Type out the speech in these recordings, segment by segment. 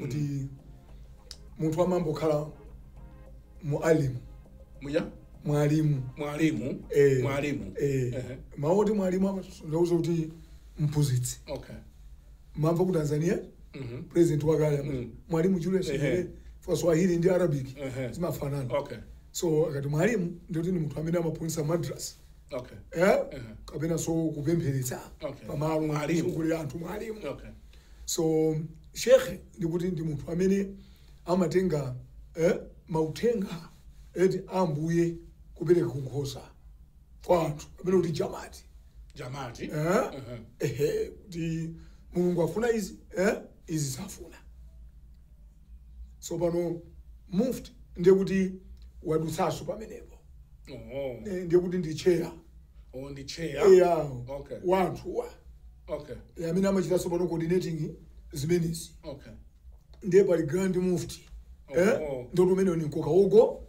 kuti munthu amangokhala mwalimu mwalimu mwalimu Eh. mwalimu eh, Ehe. mawu oti mwalimu ndauza kuti mphunzitsi okay mamva ku tanzania Mhm. president wakale amati, Mm. mwalimu julius Ehe. nyerere for swahili ndi arabic Ehe. zimafanana okay so akati mwalimu ndikuti ndi munthu amene amaphunzitsa madras okay eh? Ehe. kapena so kupempheretsa Okay. pamalo Mwalimu. mwalimu kuli anthu mwalimu okay so shekhe ndikuti ndi munthu amene amatenga eh, mauthenga ee a ambuye kupereka kunkhosa kwa anthu kapena kuti jamati jamati eh? Ehe. ehe kuti mulungu afuna izi eh? izi safuna tsopano mufti ndiye kuti wadutsanso pamenepo oh. Eh, ndiye kuti ndi cheya oh, ndi cheya eya okay. wa anthuwa okay. e, amene amachita tsopano coordinating zimenezi okay. ndiye pali grand mufti oh. eh? ndiye kuti umenewo ni mkoka ugo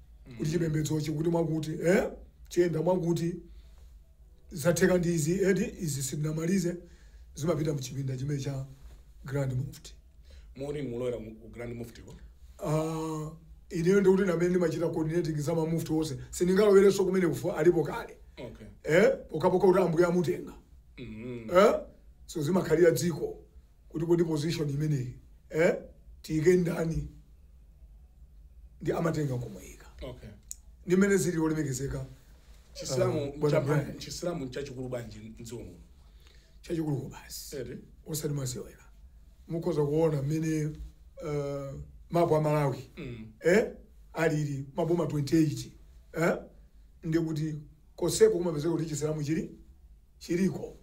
kuti chipembedzochi kuti mwakuti eh? chiyenda mwakuti zatheka ndi izi eti izi sitinamalize zimapita mchipinda chimene cha grand mufti moti mulowera mu ku grand mufti ko Ah, ineyo ndiye kuti ndi amene ndimachita coordinating za mamufti onse sindingalowerenso kumene kuja alipo kale okay eh? pokhapokha kuti ambuye amutenga mm. eh? so zimakhalira dziko kuti kodi position imeneyi eh, tiyike ndani ndi amatenga nkumuyika okay ndi mmene zili olemekezeka chisilamu Ah, bwana cha- Brian. chisilamu chachikulu bwanji mdziko muno chachikulu kwabasi eee osati masewera mukhoza kuona mmene uh, mapu a malawi Mm. eh, alili maboma 28 eh, ndikuti koseko kumapezeka kuti chisilamu chili chiliko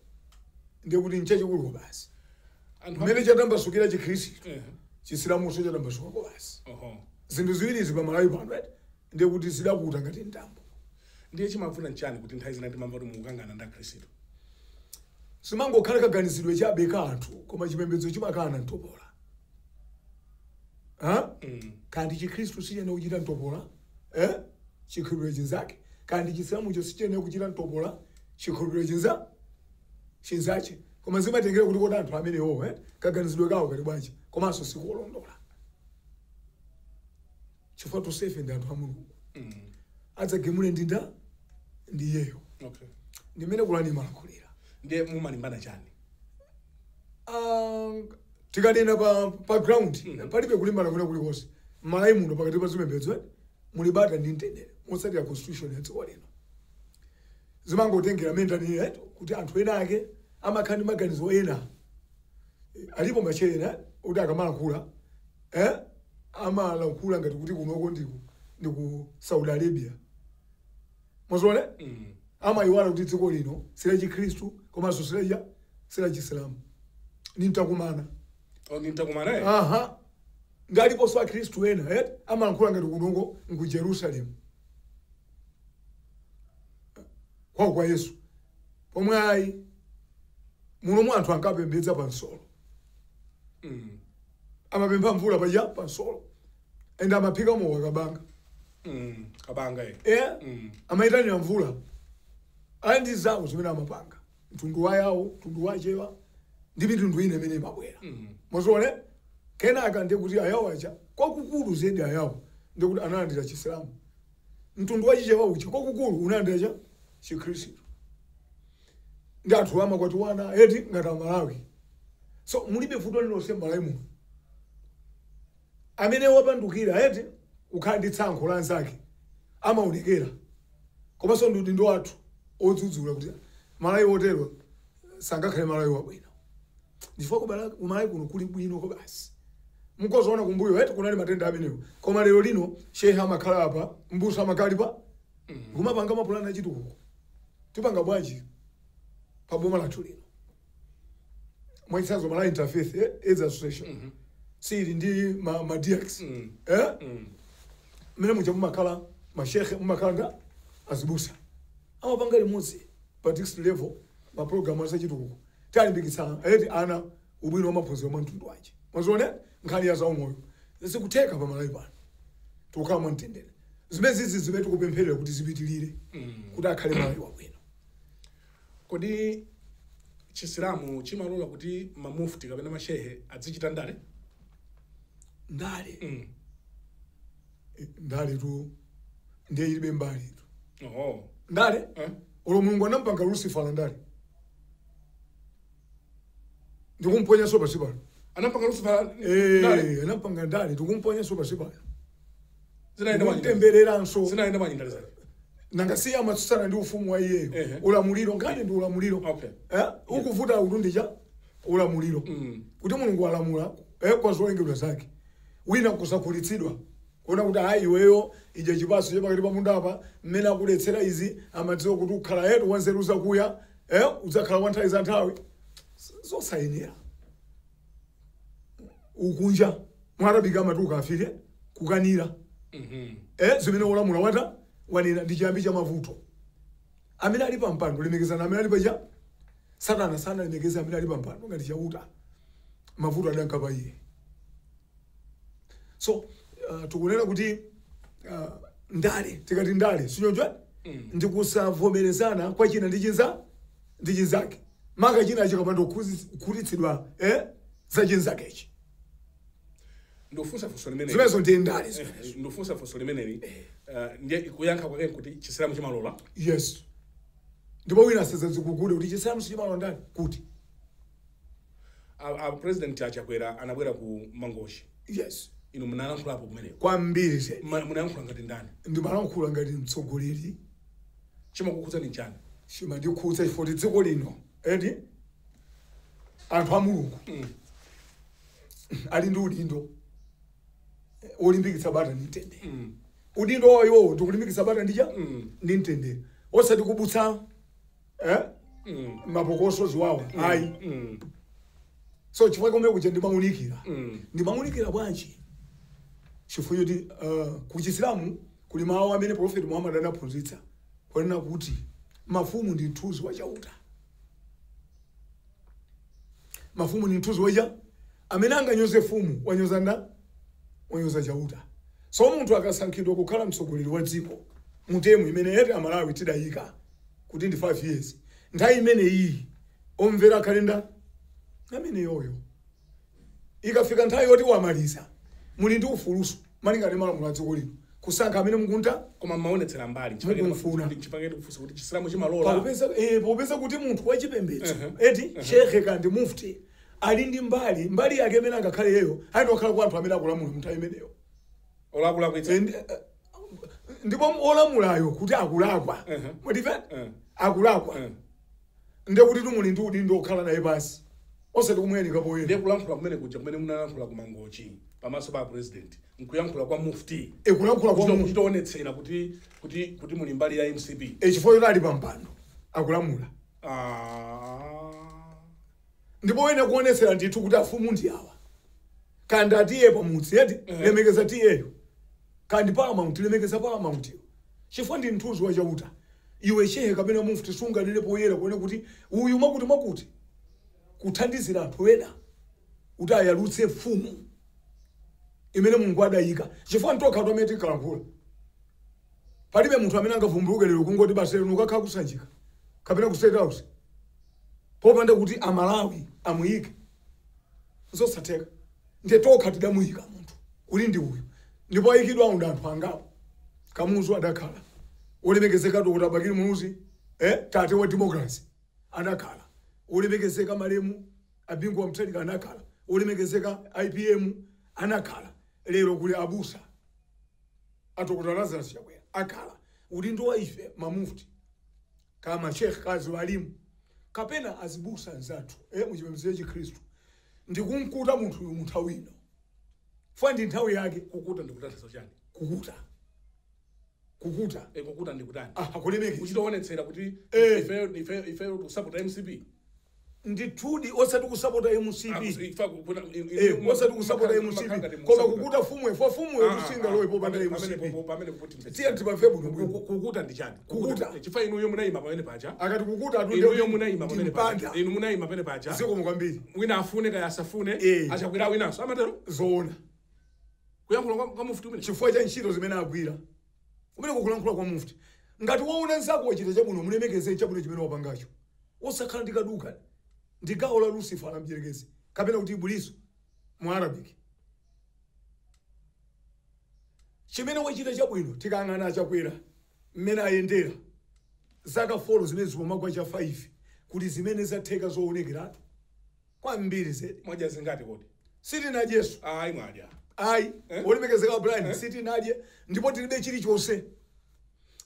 ndiye kuti nchachikulu kwabasi Anthu mmene chatambasukira chikhristu Eh, chisilamunso chatambasuka kwabasi oho. zinthu ziwirizi pa malawi pano eti ndiye kuti zidakuta ngati mtambo ndiye chimavuta nchani kuti nthawi zina timamva kuti mukukangana ndi akhristu zimangokhala kaganizidwe chabe ka anthu koma chipembedzo chimakana mtopola ha Mm. kaya ndi chikhristu sichinena kuchita mtopola eh? chikhulupiriro chinzake kaya ndi chisilamucho sichinena kuchita mtopola chikhulupiriro chinza chinzache koma zimatengera kuti kodi anthu amenewo eh, kaganizidwe kawo kali bwanji komanso sikolondola chifukwa tosefe ndi anthu a mulungu adzagamule ndinda ndi iyeyo okay ndi mmene kurani imalankhulira ndiye mumalimbana chani Ah, tikanena pa, pa ground palibe kulimbana kwina kulikonse malawi muno pakati pa zipembedzo eh, muli bata ndi mtendere motsatira constitution ya dziko lino zimangotengera mmene tanenera eti kuti anthu ena ake amakhala ndi maganizo ena Eh, alipo mashehe ena oti akamalankhula eh, amalankhula ngati kuti kunoko ndiku ndi ku saudi arabia mwazione Mm. amayiwala kuti dziko lino si la chikhristu komanso si la chi si la chisilamu ni mtakumana Oh, ndi mtakumana naye aha nanga aliponso akhristu ena eh? amalankhula ngati kunoko nku jerusalemu kwawo kwa yesu pomwe ayi munomu anthu ankapembedza pa nsolo Mm, amapempha mvula paja pa nsolo ende amaphika mowa kabanga mm, kabanga eh. eh? Mm. amayitanira mvula ali ndi zawo zimene amapanga mtundu wa yawo mtundu wa chewa ndi mitundu ina imene imabwera mwaziona kenaka ndiye kuti ayawo aja kwakukulu zedi ayawo ndiye kuti analandira chisilamu mtundu wa chichewa uchi kwakukulu unalandira cha chikhristu ndi anthu amakwatiwana eti ngati amalawi so mulibe vuto lilonse m'malawi muno amene wapandukira eti kukhala ndi tsankho la anzake amaonekera komanso ndi udindo wathu wodzudzula kuti mmalawi otero sangakhale mmalawi wabwino chifukwa kuMalawi kuno kuli bwino ko basi nzoona kumbuyo eti kunali matenda amenewo koma lero lino shehe amakhala apa mbusa amakhala apa kumapanga mapulani achitukuko tipanga bwanji pa boma lathu lino mwachitsanzo malawi interfaith eh, aids association sili ndi ma, ma dx eh? mmene muja mumakhala mashekhe mumakhala azibusa amapanga limodzi pa district level mapulogalamu achitukuko tawalimbikitsa eti ana ubwino wa maphunziro mwa mtundu wanji mwazione nkhani ya zaumoyo zikutheka pa malawi pano tikukhala mwa mtendere zimene zizi zimene tikupempherera kuti zipitirire kuti akhale malawi wabwino Kodi Chisilamu chimalola kuti ma Mufti kapena ma Shehe adzichita ndale? Ndale? Mm. Ndale tu ndiye ilibe mbali tu. Oh. Ndale? Eh? Olo Mulungu anampanga Lucifer ndale. ndikumponyanso pansi pano anampanga lucifer ndale Eh, anampanga ndale ndikumponyanso pansi pano zinaenda manyinga ndikumtembereranso zinaenda ma ndale zake nanga si amatsutsana ndi ufumu wa iyeyo Ehe. ulamuliro ngati ndi ulamuliro Okay. Eh, ukuvuta kutundija ulamuliro Mm. kuti mulungu alamula eh, kwa zolengedwa zake wina kusakhutitsidwa Kuona kuti ayi iweyo udye chipatso cha pakati pa munda apa, mmene akuletsera izi amadziwa kuti ukhala head wa nzeru zakuya, eh, udzakhala wa nthawi za nthawi. Zosayenera. Ukunja. Mu Arabic amati ukafire, kukanira. Eh, zimene olamula atha wanena ndi chiyambi cha mavuto. Amene ali pa mpando lemekezana amene ali paja Satana sanalemekeze amene ali pa mpando ngati Chauta. Mavuto adanka pa iye. so uh, tikunena kuti uh, ndale tikati ndale sinyonjwa mm. ndikusavomerezana kwa china ndi chinza ndi chinzake maka china chikapanda kukhutitsidwa eh, za chinzakechi ndofunsa funso limeneli zimenezo ndi ndale zimenezo. Eh, ndofunsa funso limeneli eh, ndiye kuyankha kwake kuti chisilamu chimalola yes ndipo wina asazazikugule kuti chisilamu sichimalola ndale kuti a, a president a Chakwera anabwera ku Mangochi yes inu munalankhulapo kumeneko kwambiri zedi Ma- munayankhula ngati ndani ndimalankhula ngati mtsogoleri chimakukhudzani chani chimandikhudza chifoti dziko lino edi anthu a Mulungu ali ndi udindo eh, wolimbikitsa bata ndi mtendere udindo wawowo ndikulimbikitsa bata ndi cha ndi mtendere osati kubutsa eh? Mm. mapokoso ziwawa ayi Mm. so chifukwa chomwe kuja ndimaunikira Mm. ndimaunikira bwanji chifukwa choti uh, ku chisilamu kuli mawu amene profeti Muhammad anaphunzitsa kunena kuti mafumu ndi mthunzi wa chauta mafumu ndi mthunzi wacha amene anganyoze fumu wanyoza nda wanyoza chauta so munthu akasankhidwa kukhala mtsogoleri wa dziko mu term imene ife Amalawi tidayika kuti ndi 5 years nthawi imene iyi omvera akhale ndani ameneyoyo ikafika nthawi yoti wamaliza muli ndi ufuluso malinga ndi malamulo a dziko lino kusankha amene mukufuna koma mmaonetsera mbali Mukumfuna. chifukwa chake ndikufunsa kuti chisilamu chimalola pakupeza eh, pakupeza kuti munthu wachipembedzo Mhm. eti shekhe grand mufti ali ndi mbali mbali yake imene angakhale yeyo ayenera kukhala kwa anthu amene akulamula munthawi imeneyo olakulakwitsa And, eh, ndipo olamulayo kuti akulakwa Mhm. mwatife Mhm. akulakwa Mhm. ndekuti timuli ndi udindo okhala naye pansi osati kumuyalika poyera ndiye kulankhula kumene kuja kumene munalankhula ku Mangochi pamaso pa president nkuyankhula kwa mufti ekulankhula kwa Kuchita- munthu kuchitaonetsera kuti kuti kuti muli mbali ya MCP echifukwa choti ali pampando akulamula Ah. ndipo wene kuonetsera ndithu kuti afumu ndi awa Kaya ndi a T/A pa mudzi eti? Lemekeza T/A yo. Kaya ndi Paramount, lemekeza Paramount yo. Chifukwa ndi mthunzi wa Chauta. Iwe Shehe kapena Mufti sunganene poyera kunena kuti uyu mwakuti mwakuti. Kuthandizira anthu ena kuti ayalutse mfumu imene Mulungu adaika. Chifukwa n'tokhatu amene tinkalankhula. Palibe munthu amene angavumbuluke lero kungoti basi lero ndikakhala ku Sanjika kapena ku State House popanda kuti Amalawi amuike. zosatheka ndiye tokha tidamuyika munthu kuti ndi uyu ndipo ayikidwawo ndi anthu angapo Kamuzu adakhala wolemekezeka Dr Bakili Muluzi eh, tate wa democracy adakhala wolemekezeka malemu a Bingu wa Mutharika anakhala wolemekezeka APM anakhala lero kuli abusa a dokotala Lazarus Chakwera akhala udindo wa ife mamufti Kaya ma sheikh, kaya aziwalimu, kapena azibusa anzathu e, mu chipembedzo cha chikhristu, ndi kumukuta munthuyu mu nthawi ino, chifukwa ndi nthawi yake. Kukuta ndi kutanthauza chani? Kukuta, kukuta. E, kukuta ndi kutani? Aha, kulemekeza. Kuchita kuonetsera kuti ifeyo, ifeyo, ifeyo tikusapota MCP. ndithudi osati kusapota MCP eh osati kusapota MCP koma kukuta mfumu chifukwa mfumuyo kuti singalowe popanda MCP tiye timve bwino bwino kukuta ndi chani Kukuta. chifukwa inuyo munayima pamene paja akati kukuta atunde inuyo munayima pamene paja timpanda inu munayima pamene paja zikomo kwambiri wina afune kaya asafune Eh. a Chakwera winanso amatero zoona kuyankhula kwa- kwa mufti kumene chifukwa cha ntchito zimene agwira Kumeneko kulankhula kwa mufti. Ngati waona nzako wachita chabwino mulemekeze chabwino chimene wapangacho. Osakhala ndi kaduka. Ndi gawo la Lusifara mdyerekezi kapena kuti Ibilisi mu Arabic. Chimene wachita chabwino tikayang'ana a Chakwera mmene ayendera zaka 4 zimene zikumka kwa cha 5 kuti zimene zatheka zoonekeratu. kwambiri zedi. Mwadya zingati kodi? Sitinadyenso. Ayi mwadya. Ayi. Eh? Olemekezeka Brian, eh? Sitinadye ndipo tilibe chilichonse.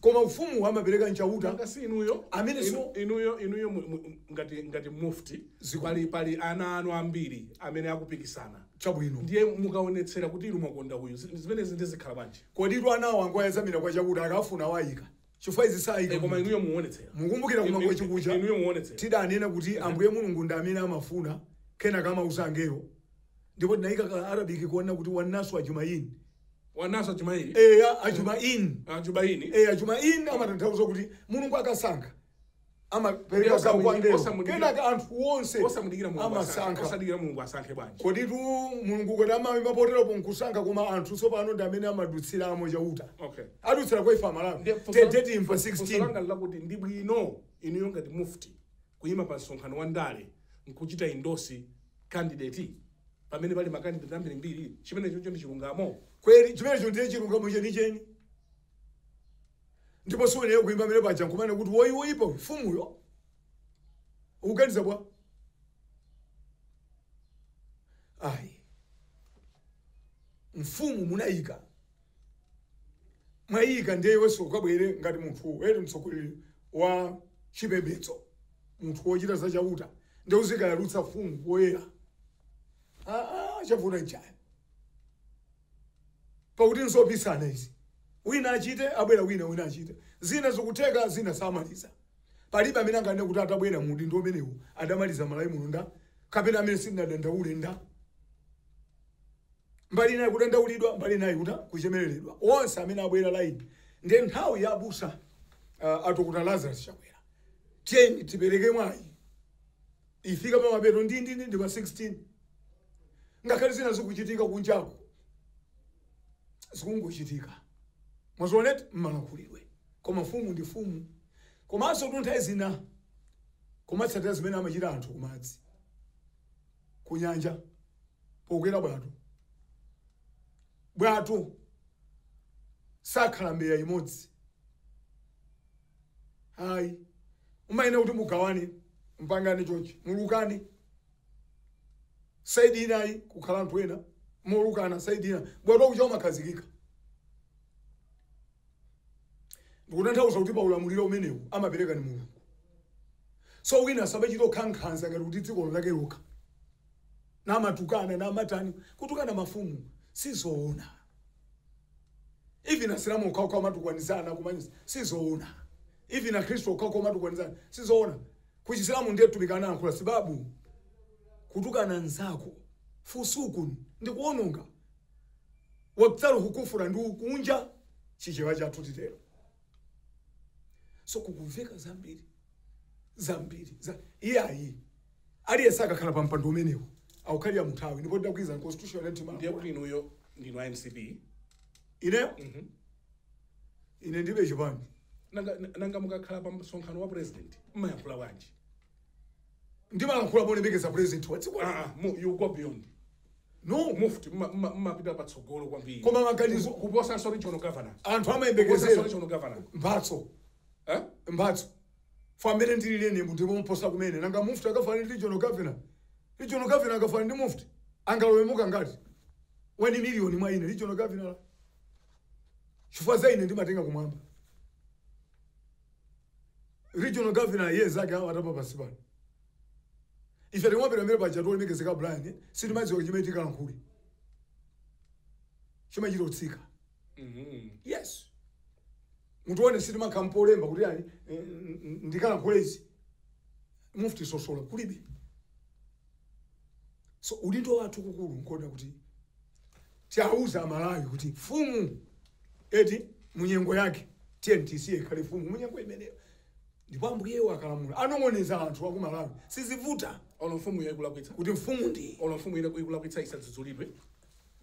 Koma ufumu amapereka n'Chauta. Nanga si inuyo. Amenenso inuyo inuyo ngati ngati mufti pali pali ana anu ambiri amene akupikisana. Chabwino. Ndiye mukaonetsera kuti inu mwakonda uyu. Zimenezi ndiye zikhala bwanji? Kodi tu anawo angoyedzamira kwa Chauta akafuna waika. Chifukwa izi saika koma inuyo muonetsera. Mukumbukira ku Mangochi kuja tidanena kuti Ambuye Mulungu ndi amene amafuna kenaka amauza angelo ndipo tinaika ka Arabic konena kuti Wan Naasu Ajmain. Wan Naasu Ajmain. Eya, Ajmain. Ajmain. Eya, Ajmain amatanthauza kuti Mulungu akasankha. amapereka gawo kwa mbewu Osamudikira. kenaka anthu onse osamudikira mulungu asankhe. amasankha osadikira mulungu asankhe bwanji kodi tu mulungu kodi amayima poteropo nkusankha koma anthu tsopano ndi amene amadutsiramo chauta okay adutsira kwa ife amalawi Ndiye funso la- tedeti imfa funso 16 langa lakuti ndi bwino inuyo ngati mufti kuyima pa msonkhano wa ndale nkuchita endorse candidate pamene pali makandideti ambirimbiri chimenecho ndi chilungamo kweli chimenecho ndiye chilungamo chenicheni ndipo suyenera kuima pamene paja nkumanena kuti woyi woyipa uyu, mfumuyo ukuganiza bwa ayi mfumu munayika mwayika ndiye iwenso ukabwere ngati munthu eri mtsogoleri wa chipembedzo munthu wochita za chauta ndiye uzikayalutsa mfumu poyera Ah, ah, chavuta nchani pakuti nzopitsana izi wina achite abwera wina wina achite zina zikutheka zina samaliza palibe amene anganene kuti atabwera mu udindo umenewu adamaliza malawi muno nda kapena amene sindinadandaule nda mbali inayi kudandaulidwa mbali inayi kuta kuchemereredwa onse amene abwera laini ndi nthawi ya abusa uh, a dokotala lazarus chakwera tiyeni tipereke mwayi ifika pamapeto ndindindi ndi pa 16 ngakhale zina zikuchitika kunjaku zikungochitika mwazioneti mmalankhulidwe koma mfumu ndi mfumu komansotu nthawi zina kumatsatira zimene amachita anthu kumadzi kunyanja pokwera bwato bwato sakhala mbeya imodzi ayi umayenera kuti mugawane mpangane chonchi mulukane saidi inayi kukhala anthu ena molukana saidi ina bwato uja umakhazikika ndikutanthauza kuti pa ulamuliro umenewu amapereka ni mulungu so wina samachita kukhankhanza ngati kuti dziko lake lokha namatukana namatani kutukana mafumu sizoona even asilamu okhaokha amatukwanizana kumanyisa sizoona even akhristu okhaokha amatukwanizana sizoona kuchisilamu ndiye mtumiki anayankhula sibabu kutukana nzako fusukun ndi kuononga waktaluhu kufura ndi ukunja chichewa chathu titero so kukumveka zambiri zambiri za iyayi Aliyense akakhala pa mpando umenewu akukhalira munthawi ndipo tidagwirizana constitution ya timu ndiye kuti inuyo ndinu a mcp ine ine ndibe chipani nanga, nanga mukakhala pa msonkhano wa president mmayankhula bwanji ndimalankhula polemekeza president wa dziko Ah, ah, mu- you go beyond no mufti mma- mma- mmapita patsogolo kwambiri Koma maganizo- Kupo- kuposanso regional governor anthu Kuposanso amayembekezera regional governor mphatso Eh? mphatso Ife amene ndili lero munthu pomuposa kumene. Nanga mufti akafanana ndi regional governor? Regional governor akafanana ndi mufti? Angalowemo kangati? 1 million mwa ine regional governor la? Chifukwa za ine ndimatenga kumwamba. Regional governor iye zake amatapa pansi pano. Ife tikamapita mbali paja olemekezeka Brian sitimadziwa chimene tikalankhule. Chimachita kutsika. yes mutione sitimakhala n'polemba kuti ali eh, n- n- ndikalankhule izi mufti zozo kulibe so udindo wathu waukulu nkuona kuti tiauza amalawi kuti mfumu eti munyengo yake tiyeni tisiye ikhale mfumu munyengo imeneyo ndipo ambuyewo akalamula anong'oneza anthu aku malawi sizivuta olo mfumu ikulakwitsa kuti mfumu ndi olo mfumu ina ikulakwitsa isadzudzulidwe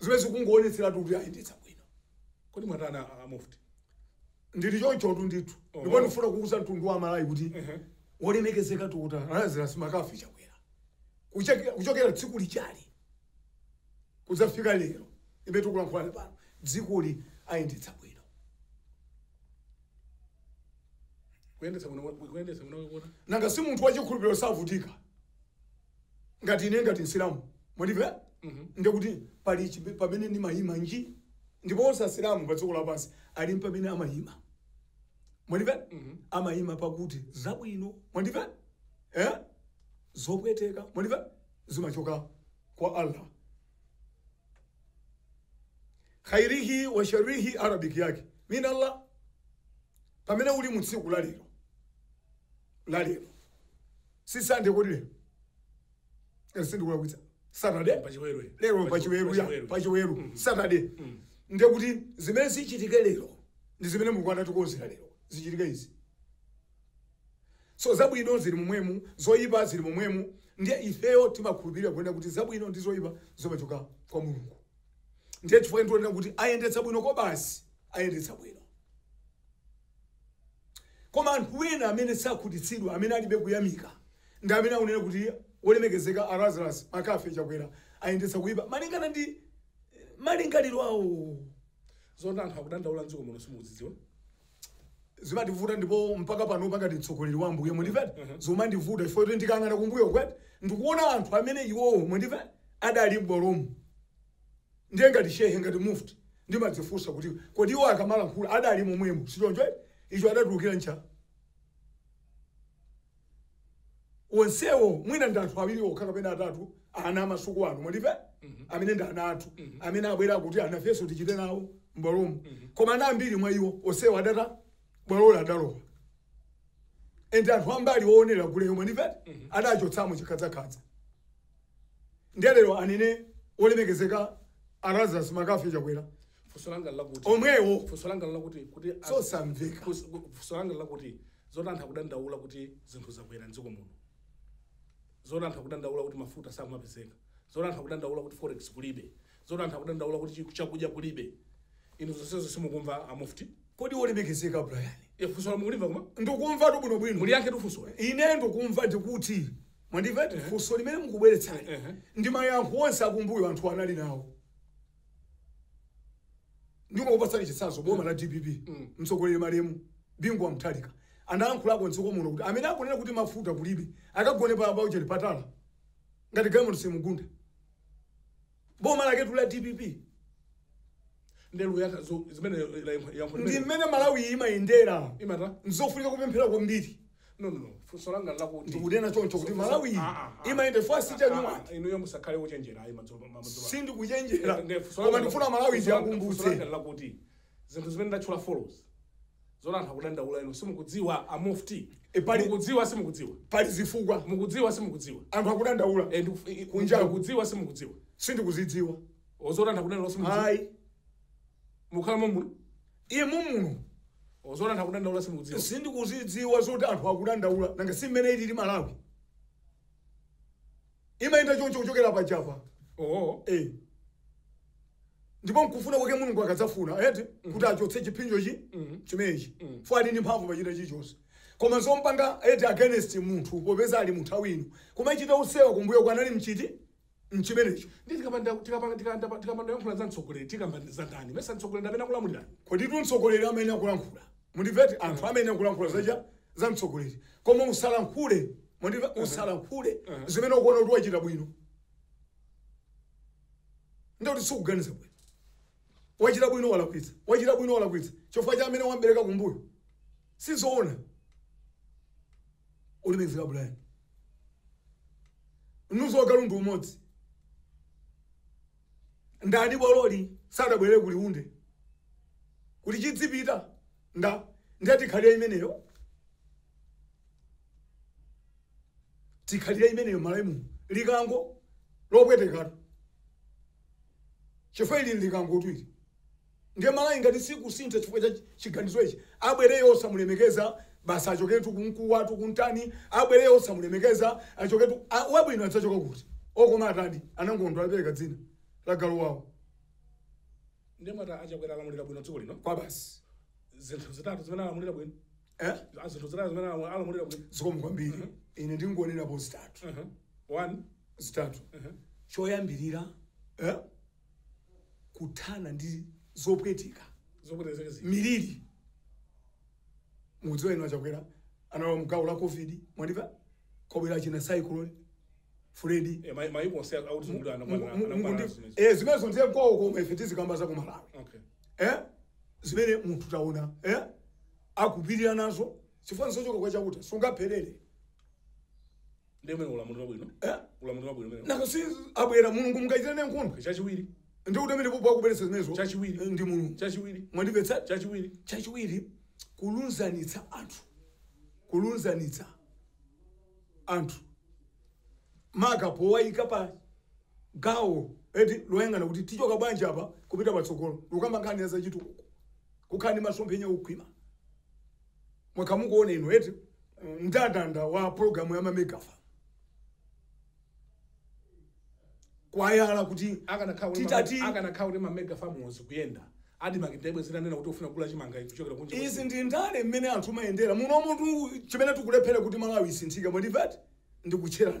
zimene zikungowonetseratu kuti ayendetsa bwino kodi mwatani a- a mufti ndili chonchotu ndithu ndipo ndifuna kuuza mtundu wa Malawi kuti wolemekezeka Dokotala Lazarus McCarthy Chakwera Kucheke- kuchokera tsiku lijali kudzafika lero mmene tikulankhulana pano dzikoli ayendetsa bwino kuyendetsa bwino kuyendetsa bwino koma nanga si munthu wachikhulupiriro savutika ngati ine ngati msilamu mwandimvera ndiye kuti pali chipe- pamene ndimayima nji ndi pomwe onse asilamu pa dziko lapansi ali ndi pamene amayima mwandimvera amayima pakuti zabwino mwandimvera eh? zopweteka mwandimvera zimachoka kwa allah khairihi wa sharrihi arabic yake min allah pamene uli mu tsiku la lero la lero si sande kodi lero Eh, sindikulakwitsa saturday Pachiweru. lero pachiweru ya Pachiweru. pachiweru saturday ndekuti zimene zichitike lero ndi zimene mulungu anatikonzera lero zichitike izi so zabwino zili momwemu zoyipa zili momwemu ndiye ifeyo timakhulupirira kunena kuti zabwino ndi zoyipa zimachoka kwa mulungu ndiye chifukwa ndiona kuti ayendetsa bwino kobasi ayendetsa bwino Koma anthu ena amene sakhutitsidwa amene alibe kuyamika ndi amene akunena kuti Wolemekezeka a Lazarus McCarthy Chakwera ayendetsa kuipa malingana ndi malingaliro awo. Zoona anthu akudandaula mdziko muno simukuzidziwa? zimandivuta ndipo mpaka panopa ngati mtsogoleri wa ambuye mwandimva zomandivuta chifukwa kuti ndikang'ana kumbuyoku eti ndikuona anthu amene iwowo mwandimva adali m'bwalomu Ndiye ngati Shehe, ngati Mufti, ndimadzifunsa kuti kodi iwo akamalankhula adali momwemo, sichoncho eti? Icho adatulukira ncha? Onsewo mwina ndi anthu awiri okha kapena atatu a ana a masiku ano, mwandimve? Amene ndi ana athu, amene abwera kuti anafenso tichite nawo m'bwalomo. Koma ana ambiri mwa iwo, onsewo adata, bwalolo adalowa. Ende anthu ambali oonera guleyo, mwandimve eti? Adachotsamo chikhadzakhadza. ndiye lero anene olemekezeka Lazarus McCarthy Chakwera funso langa lakuti omwewo funso langa lakuti kuti as- sosamveka funso- funso langa lakuti zoti anthu akudandaula kuti zinthu zakwera mdziko muno zoti anthu akudandaula kuti mafuta samapezeka zoti anthu akudandaula kuti forex kulibe Zoti anthu akudandaula kuti chakudya kulibe inu zonsezo simukumva a Mufti? Kodi wolemekezeka Brian. Eee funsolo mukulimva koma? Ndukumvatu bwino bwino. Muliyankhetu funsoli. Ine ndukumva ndikuti mwandimva eti funso limene mukubweretsali ndi mayankho onse akumbuyo anthu anali nawo. Ndikukupatsani chitsanzo boma la dpp mtsogoleri malemu Bingu wa Mutharika anayankhulako m'dziko muno kuti amene akunena kuti mafuta kulibe akagone pa Ginnery Patala ngati galimoto simugunda. boma laketu la dpp nde ndiyankha zimene yankho ndi mmene malawi imayendera imata nzofunika kupemphera kwambiri no no no funso langa lakuti ndikunena choncho kuti malawi Ah, ah, ah. imayenda fasiti chanyuma inuyo musakhale ochenjera ayi madzulo madzulo sindikuchenjera koma ndifuna malawi ndiyakumbutse lakuti zinthu zimene ndatchula forex zoti anthu akudandaula inu simukudziwa a mufti E, pali- mukudziwa simukudziwa pali zifukwa mukudziwa simukudziwa anthu akudandaula Eh, ndiku- i- i- Kunjaku. mukudziwa simukudziwa sindikuzidziwa zoti anthu akudandaula simukudziwa ayi mukhala momuno iye mumuno zoti anthu akudandaula simukudziwa sindikuzidziwa zoti anthu akudandaula nanga si mmene ilili malawi imayenda choncho kuchokera pajapa oho eh. ndipo nkufuna kwake mulungu akadzafuna eti kuti achotse chipsinjo chimenechi fo ali ndi mphamvu pochita chilichonse koma zompanga eti against munthu popeza ali munthu awino kumachita usewa kumbuyo kwa anali mchiti mchimenecho nde tikapanda tikapanda tikapanda tikapanda yankhula za mtsogoleri tikamba za ndani mesa mtsogoleri amene akulamulira kodi tu mtsogoleri amene akulankhula Mundivete anthu amene akulankhula za za mtsogoleri koma usalankhule mundimve usalankhule zimene ukuona kuti wachita bwino ndikuti sikuganiza bwino wachita bwino walakwitsa wachita bwino walakwitsa chifukwa cha amene wambereka kumbuyo sizoona wolemekezeka Brian ndizo za agalu ndi umodzi ndani bola sadabwere kuli Liunde kuti chidzipita ndani ndiye tikhalira imeneyo tikhalira imeneyo Malawi muno likango lopwetekatu chifukwa ili likangotu ili Ndiye Malawi ngati sikusintha chifukwa cha chiganizo ichi abwereyo osamulemekeza basi achoketu kumkuwa tu kumtani abwereyo osamulemekeza achoketu a, wabwino adzachoka kuti okoma atadi anangondo apereka dzina la galu wawo ndiye mwati a Chakwera alamulira bwino dziko lino kwa basi zinthu zitatu zimene alamulira bwino eh Ah, zinthu zitatu zimene alamu- alamulira bwino zikomo kwambiri ine ndingonenapo zitatu Mhm. one zitatu choyambirira eh kuthana ndi zopweteka zopwetezeka zija miliri mukudziwa inu a Chakwera analowa mgawo la covid mwandimva kwabwera achina cyclone freddy Eh, mai- maiko onse otizungulira anakwana anakwana zimezi eh zimenezo ndiye kwawo koma ife tizikamba za ku Malawi okay eh zimene munthu taona eh akupirira nazo chifukwa nizochoka kwa Chauta sungapherere ndi umenewo ulamuliro wabwino Eh? ulamuliro wabwino umene nanga si abwera Mulungu mungachita naye nkhondo chachiwiri ndi kuti amene popo akubweretsa zimenezo Chachiwiri. Eh, ndi Mulungu chachiwiri mwandimvetsa chachiwiri chachiwiri kulunzanitsa anthu kulunzanitsa anthu maka powayika pa gawo eti loyang'ana kuti tichoka bwanji apa kupita patsogolo tukamba nkhani ya zachitukuko kukhala ndi masomphenya okhwima mwakhala mukuona inu eti mndandanda wa pologalamu ya mamega farm kwayala kuti akanakhala titati akanakhala kuti mamega farms ikuyenda Admarc ndiye bwezi inanena kuti ifuna kugula chimanga ichi kuchokera kunja kwa izi dziko. ndi ndale mmene anthu mumayendera muno muthu chimene tikulephera kuti Malawi isinthike mwandimva eti ndikutcherana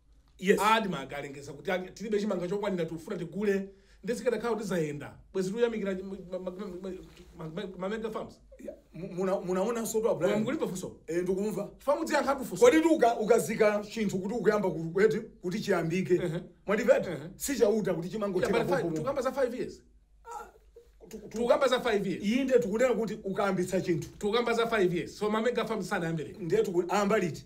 Yes. Admarc alengeza kuti ali- tilibe chimanga chokwanira tikufuna tigule nde zikadakhala kuti zayenda bwezi tuyamikira mamega farms Yeah. Mu- muna- munaonanso pa Koma Brian. mukulipha funso Eh, ndikumva pa mudziyankhatu funso kodi tuka ukazika chinthu kuti ukuyamba ku- kweti kuti chiyambike Ehe. mwandimva eti Ehe. si Chauta kuti Yeah, chimangotheka but five- popopo. tukamba za 5 years Tu- tu- tukamba za 5 years inde tikunena kuti ukayambitsa chinthu tukamba za 5 years so mamega farms sanayambebe ndiye tiku- ayamba liti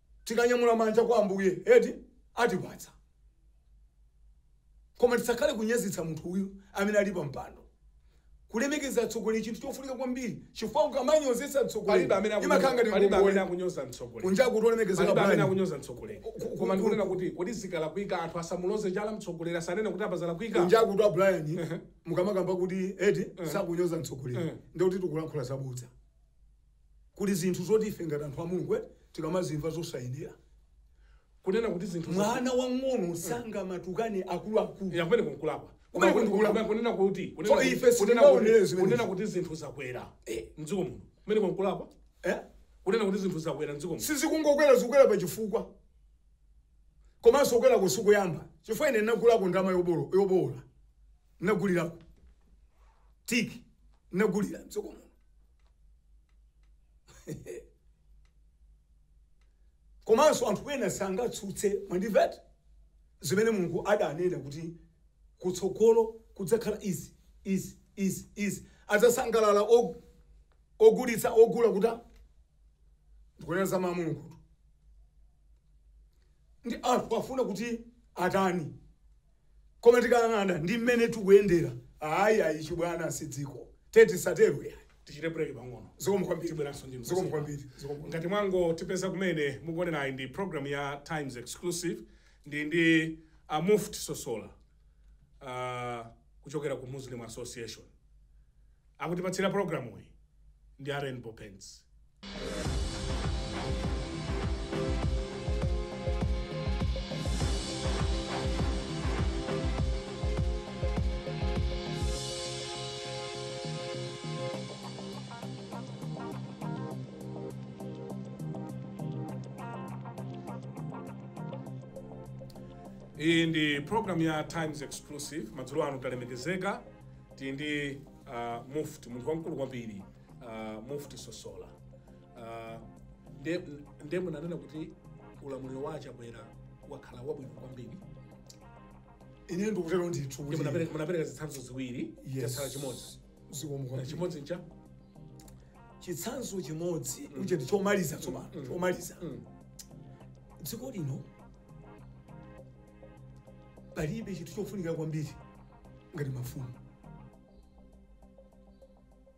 Tikanyamula manja kwa Ambuye eti, atipatsa. Koma tisakhale kunyozetsa munthu uyu amene ali pa mpando. Kulemekeza atsogoleri chinthu chofunika kwambiri chifukwa ukamanyozetsa mtsogoleri imakhala ngati ngongole. Kunjaku kuti olemekezeka bwanji? Kunjaku kuti a Brian mukamakamba kuti eti sakunyoza mtsogoleri ndiye kuti tikulankhula zabodza. Kuli zinthu zoti ife ngati anthu a Mulungu eti tikamazimva zosayenera. Kunena kuti zinthu za Mwana wang'ono sangamatukane akuluakulu. ya kumeneko nkulakwa. Kumeneko nkulakwa. Kunena kuti So kunena kuti- ife kunena sitingaonere kuti zimenezo. kunena kuti zinthu zakwera Eh. mdziko muno. Kumeneko nkulakwa. Eh? Kunena kuti zinthu zakwera mdziko muno. sizikungokwera zikukwera pa chifukwa komanso kukwerako sikuyamba chifukwa ine ndinagulako ndalama yobolo- yobowola ndinagulirako tiki ndinagulira mdziko muno komanso anthu ena sangatsutse mwandimvete zimene mulungu adanena kuti kutsogolo kudzakhala izi izi izi izi adzasangalala og- ogulitsa ogula kuta ndikunena za mawu a mulungu ndi anthu afuna kuti atani Koma tikayang'ana ndi mmene tikuyendera, ayi, ayi, chibwana si dziko. Tiye tisatero, iyayi. Tichite break pang'ono. Zikomo kwambiri. Ngati mwangotipeza kumene, mukuonerayi ndi program ya Times Exclusive. Ndi ndi a Mufti Sosola ah, kuchokera ku Muslim Association. Akutipatsira pulogalamuyi ndi a Rainbow Paints. iyi ndi program ya times exclusive madzulo ano talemekezeka tili ndi uh, mufti munthu wamkulu kwambiri uh, mufti sosola uh, nde, nde munanena kuti ulamuliro wa a chakwera wakhala wabwino kwambiri ine ndikutero ndithu Nde kuti munapereka zitsanzo ziwiri Yes. chatsala chimodzi chimodzi ncha chitsanzo chimodzi uche ndi chomaliza tsopano chomaliza dziko lino palibe chinthu chofunika kwambiri ngati mafumu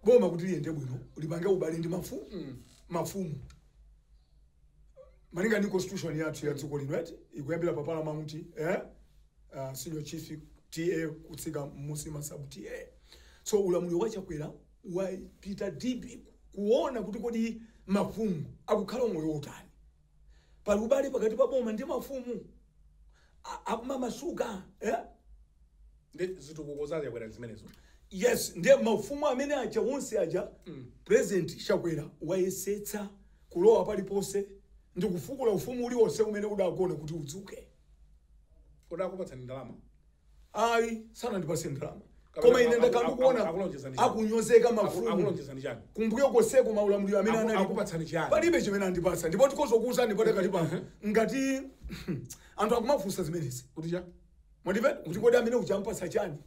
boma kuti liyende bwino lipange ubale ndi mafumu Mm. mafumu malinga ndi constitution yathu ya dziko lino eti ikuyambira pa paramount eh? uh, senior chief ta kutsika mmusi ma sub ta so ulamuliro wa chakwera wapita deep kuona kuti kodi mafumu akukhala umoyo wotani Pali ubale pakati pa boma ndi mafumu a- akumamasuka eh? ndi zitukuko za a chakwera zimenezo yes ndiye mafumu amene aja onse aja president chakwera wayesetsa kulowa paliponse ndi kufukula ufumu uliwonse umene udagona kuti udzuke kodi akupatsani ndalama ayi sanandipase ndalama Kapena koma ine aku- ndakhala aku- ndikuona akulonjezani chani? akunyozeka mafumu akulonjezani chani kumbuyo koseko maulamuliro amene Aku- anali akupatsani chiyani? palibe chimene andipasa ndipo tikozokuuzani padakali pano ngati anthu akumafunsa zimenezi kuti cha mwandimva kuti kodi amene utampatsa chani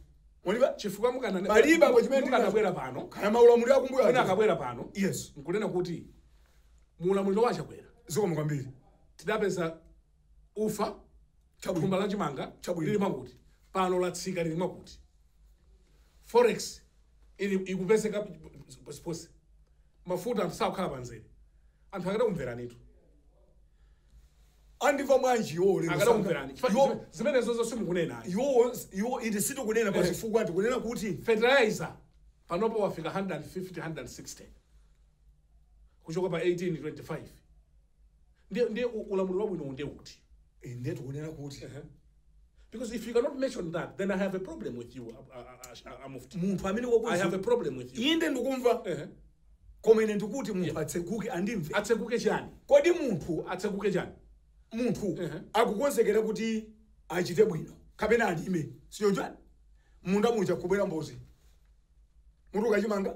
mwalive chifukwa mukanena palibe apo chimene ndikanabwera pano kaya maulamuliro akumbuyo mwina aja. akabwera pano yes nkunena kuti muulamuliro wa chakwera zikomo kwambiri tidapeza Ufa, thumba la chimanga chabwino lili mwakuti, pano latsika lili mwakuti. Forex ili ikupezeka ponseponse. Mafuta anthu sakukhala pamzere. Anthu akadakumveranitu. Andimva bwanji iwo lero sanga- Akadakumverani. Chifukwa iwo- zime- Zimenezozo simukunena. iwo iwo iti sitikunena Eh. pachifukwa tikunena kuti Fertilizer panopo wafika 150 160. Kuchoka pa 18 25. ndiye ndiye u- ulamuliro wabwinowo ndiye uti inde tikunena kuti because if you cannot mention that then i have a problem with you uh, uh, uh, uh, Mufti. munthu amene i have a wakuzi problem with you inde ndikumva Ehe. koma ine ndikuti munthu atseguke andimve atseguke chani kodi munthu atseguke chani munthu Ehe. akukonzekera kuti achite bwino kapena alime si choncho nanji munda muja kubwera mbozi mutu wa chimanga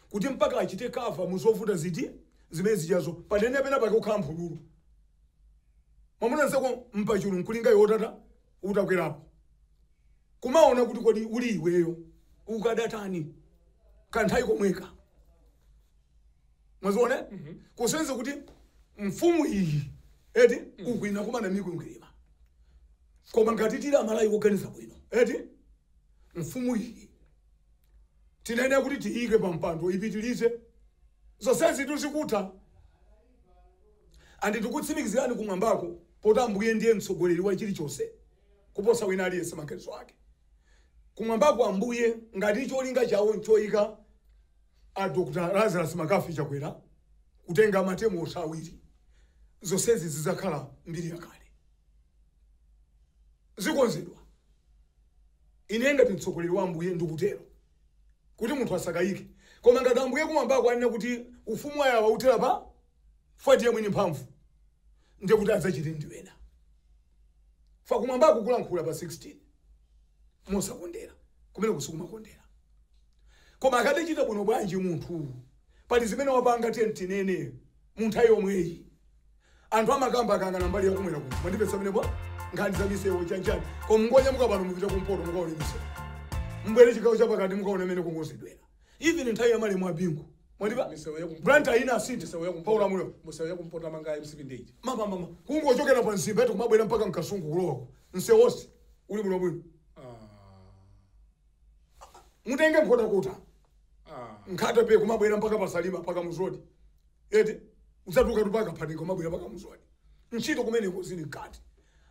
kuti mpaka achite cover mu zovuta ziti zimene zijazo panene pena pake kukhala mphululu mwamuna nzako mpachulu nkulinga iwe utata utakwerapo kumaona kuti kodi uli iweyo ukadatani kanthawi komweka mwaziona kusenza kuti mfumu iyi eti ikukumana mikwingwirima koma ngati tili Amalawi woganiza bwino eti mfumu iyi tinene kuti tiyike pa mpando ipitilize zonsezi ndizikutha and ndikutsimikizirani kumwambako poti ambuye ndiye mtsogoleri wa chilichonse kuposa wina aliyense maganizo ake kumwambako ambuye ngati cholinga chawo nchoyika a dr lazarus McCarthy chakwera kutenga matemu awiri zonsezi zidzakhala mbiri yakale zikonzedwa. Ine, ngati mtsogoleri wa Ambuye, ndikutero, kuti munthu asakayike. Koma ngati Ambuye Kumwambako anena kuti ufumu wawo uthera pa 5 ndiye mwini mphamvu, ndiye kuti adzachite ndi ena. Pa Kumwambako kulankhula pa 16 mosakondera, kumeneko sikumakondera. Koma akadachita bwino bwanji munthu? Pali zimene wapanga, tiyeni tinene, mu nthawi yomweyi. Anthu amakamba akayang'ana mbali ya kumwera kuno. Mwandimvetsa pamenepo? Nkhani za misewu chanichani. Koma mungonyamuka pano mupite kumpoto mukaone misewu. Mubwere chigawo cha pakati mukaone mmene akukonzedwera. Even nthawi ya malemu a Bingu. Mwandimva? Misewu ya kumpoto. Blantyre inasintha. Misewu ya kumpoto. Paula Muleo. Misewu ya kumpoto amanga MCP ndithu. Mama mama. Kungochokera pa Mzimba eti kumabwera mpaka Mkasungu kulowa. Msewu wonse uli bwino bwino. Mutenge Nkhotakota. Nkhata Bay kumabwera mpaka pa Salima pa Kamuzu Road. eti udzatulukatu pa Kaphatenga kumabwera pa kamuzu aja ntchito kumenekonso zili mkati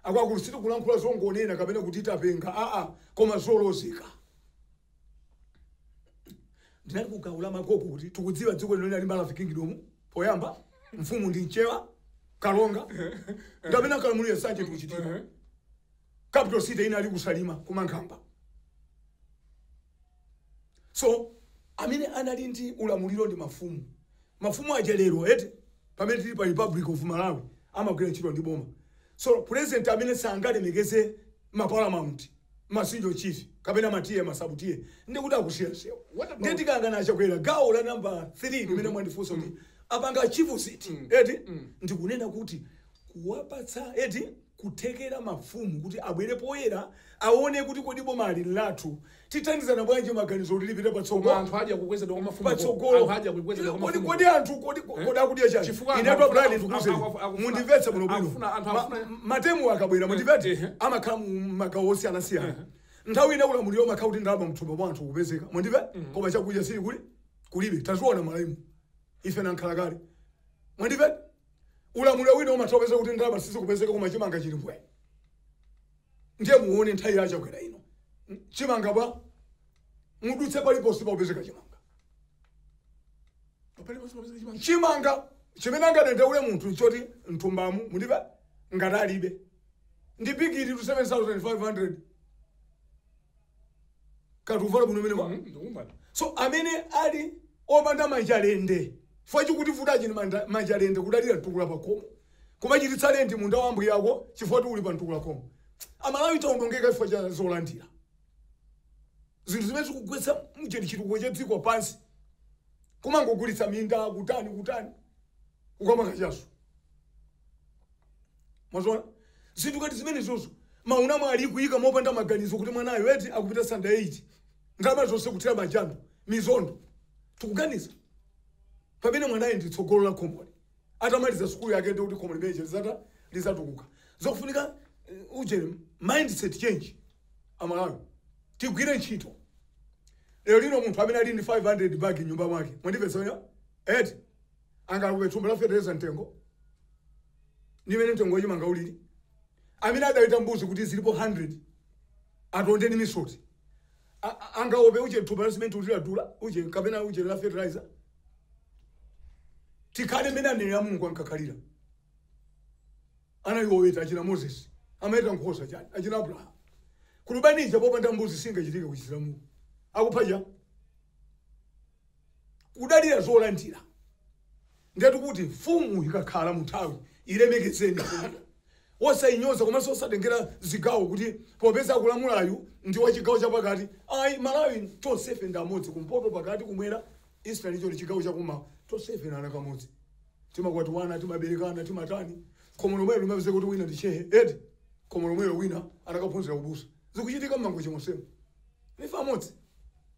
akwakuti sitikulankhula zongonena kapena kuti tapenga aa koma zolozeka ndinali kuganiza makolo kuti tikudziwa dziko lino linali Maravi Kingdom poyamba mfumu ndi mchewa kalonga ndi amene ankalamulira zonse zikuchitika capital city inali kusalima kumankhamba So, amene anali ndi ulamuliro ndi mafumu. Mafumu aja lero eti pamene tili pa Republic of Malawi amagwira ntchito ndi boma. So, president amene sangalemekeze ma paramount, ma senior chief, kapena ma TA, ma sub TA, ndiye kuti akusiya msewu. What Ndiye about tikayang'ana achakwera gawo la number 3 limene mwandifunsa kuti apanga achieve ziti eti ndikunena kuti kuwapatsa eti kuthekera mafumu kuti abwere poyera awone kuti kodi bomali nlathu tithandizana bwanji maganizo kuti lipite patsogo Koma anthu adya kukwezedwa kwa mafumu. patsogolo Anthu adya kukwezedwa kwa kodi mafumu. kodi anthu kodi kodi akudya chani Chifukwa anthu inutu akufuna- a Brian akufuna- ndikuuzeni akufuna- akufuna- mundimvetse bwino bwino akufuna- anthu Ma- akufuna- ma term akabwera mundimvetse ehe. amakhala mu magawo osiyana siyana nthawi ina ulamuliro umakhala kuti ndalama mthumba mwa anthu kupezeka mundimve koma chakudya chili kuli kulibe taziona malemu ife nankhalakale mundimve ulamuliro wina umatha kupeza kuti ndalama sizikupezeka koma chimanga chili mbwe ndiye muone nthawi ya chakwera ino chimanga mbwe mudutse paliponse pakupezeka chimanga Paliponse pakupezeka chimanga. chimanga chimene angadandaule munthu nchoti mthumbamu mulibe ngati alibe ndi bigiri 2 7500 akuvala bwino mene ma ndikumana so amene ali opanda manja lende chifukwa chikutivuta achini manda- manja lende kudalira mtukula pakomo kumachititsa lendi munda wa mbuya yako chifukwa choti uli pa mtukula pakomo amalawi taonongeka chifukwa cha zolandira zinthu zimene zikugwetsa ujeni chitukuko cha dziko pansi kumangogulitsa minda kutani kutani kukamwa kachaso mowa zinthu ngati zimenezozo mmaunamo ali kuyika mopanda maganizo kuti mwanayo eti akupita standard 8 ndalama zonse kuthira m'majando m'misondo tikuganiza pamene mwanayo ndi tsogolo la khomolo atamaliza sukulu yake ndi kuti khomo limene lija lizata lizatukuka zokufunika uh, ujeni mindset change amalawi tigwire ntchito lero lino munthu amene ali ndi 500 bag mnyumba mwake mwandimvetsa eti angaope thumba la fetereza mtengo ndi imene mtengo wachimanga ulili amene adaweta mbuzi kuti zilipo 100 atonde ndi misoti A- a- angaope uje thumba la simenti uti ladula uje kapena uje la fertilizer tikhale mmene anenera a mulungu ankakhalira anali oweta achina moses amaweta nkhosa chani achina abrahamu kulubanija popanda mbuzi singachitike kuchisilamu akuphaja kudalira zolandira ndetu kuti mfumu ikakhala munthawi ilemekezeni mfumuyo osayinyoza komanso osatengera zigawo kuti popeza akulamulayu ndi wa chigawo chapakati ayi malawi tonsefe ndi amodzi kumpoto pakati kumwera eastern region chigawo chakummawa tonsefe ndi ana amodzi timakwatiwana timaberekana timatani khomo lomwelo limapezeka kuti wina ndi shehe eti khomo lomwelo wina anakaphunzira ubusa zikuchitika mmangochi monsemo nife amodzi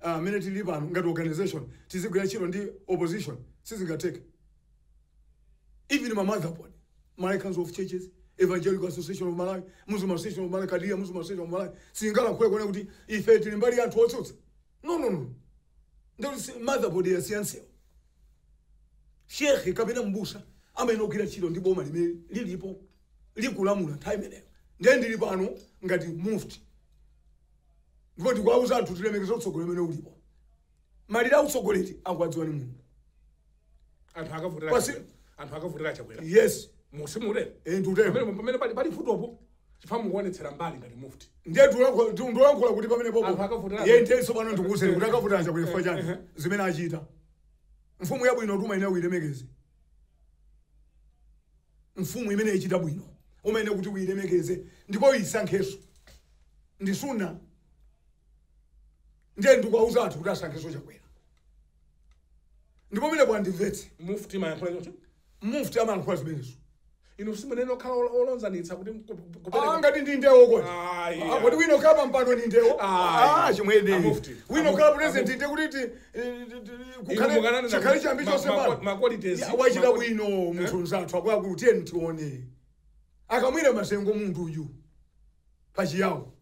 a mmene tilili pano ngati organisation tizigwira ntchito ndi opposition sizingatheke even ma mother board Malawi Council of Churches Evangelical Association of Malawi Muslim Association of Malawi Kadiria Muslim Association of Malawi singalankhule kunena kuti ife tili mbali ya anthu otsutsa no no no ndikuti si- mother board yasiyansiyo shekhe kapena mbusa amayenera kugwira ntchito ndi boma limene lilipo likulamula nthawi imeneyo ndiye ndili pano ngati mufti ndipo ndikuwauza anthu kuti lemekeza utsogoleri umene ulipo malire a utsogoleri akuwadziwa ndi mulungu anthu akavotera Pasi- Chakwera. anthu akavotera chakwera yes mutsimule eh, pamene ndikutero pamene pali pali vutopo chifukwa mukuonetsera mbali ngati mufti ndiye ndikulankhula- ndi- ndikulankhula kuti pamene Anthu popo akavotera- iye ndithenso pano ndikuuzeni kuti akavotera chakwera chifukwa chani zimene achita mfumu yabwino tuma ine uyilemekeze mfumu imene ichita bwino umayenera kuti uyilemekeze ndipo uyisankhenso ndi sunna ndiye ndikuwauza anthu kuti asankhenso chakwera ndipo pamene mwandimvetse mufti amayankhula choncho mufti amayankhula zimenezo Inu si amene okhala olo- oyanjanitsa kuti mku- mku- Ah, kupereka. ngati ndi ndewo kodi Ayi, Ah, ayi. kodi wina okhala pampando ni ndewo Ayi. Ah, chimwene Amufti. wina okhala Amu- president amu- nde kuti ti- eh, ti- ti- Inu kukhale mukananena chikhale kuti chiyambi ma- chonse ma- pano ma qualities, Ya, wachita ma- bwino munthu mzathu akuluakulu tiyeni tione akamwira masengo munthu uyu pachiyawo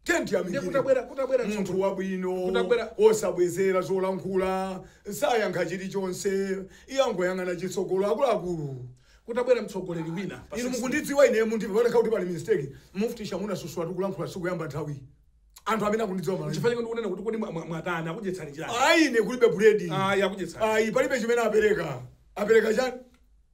Tiyeni Ndiye tiyamikire kutabwera kutabwera munthu mtsogoleri. wabwino Kutabwera- osabwezera zolankhula sayankha chilichonse iye angoyang'ana chitsogolo akuluakulu Kutabwera mtsogoleri wina. pa inu 16. mukundidziwa ine mundipeza panokha kuti pali mistake mufti chamuna sosa tikulankhula sikuyamba nthawi anthu amene akundidziwa malawi Chifukwa chake ndikunena kuti kodi mwa- mwa- mwatani akudyetsani chiyani? ayi ine kulibe buledi Ayi akudyetsani. ayi palibe chimene apereka apereka chani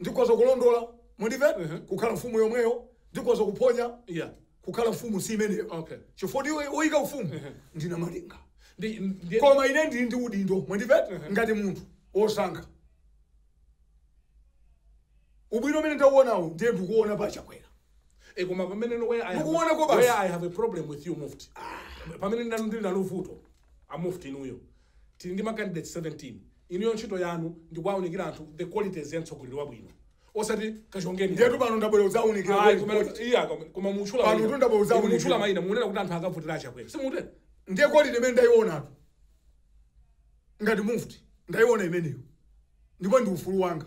Ndikhoza kulondola, mundimve, uh -huh. kukhala mfumu yomweyo, ndikhoza kuphonya. Yeah. Kukhala mfumu si imeneyo. Okay. Chifukwa woyika ufumu uh -huh. ndi namalenga. Ndi, ndi, Koma ine ndili ndi udindo, mundimve, uh -huh. ngati munthu wosankha. Ubwino umene ndauonawo ndiye ndikuona pa Chakwera. E koma pamene no where I have, Mukuonako basi. where I have a problem with you mufti. Pamene ndili nalo vuto a mufti inuyo. Tili ndi ma candidates 17. Inuyo ntchito yanu ndi kuwaunikira anthu the qualities ya mtsogoleri wabwino osati kachongeni Ndiyetu pano ndabwera kudzaunikira Ayi, koma- quality. iya, koma- koma mutchula Pano mayina. tu ndabwera kudzaunikira. Inu mutchula mayina mukunena kuti anthu akavotera achakwera simutera ndiye quality imene ndaionatu ngati mufti ndaiona imeneyo ndipo ndi ufulu wanga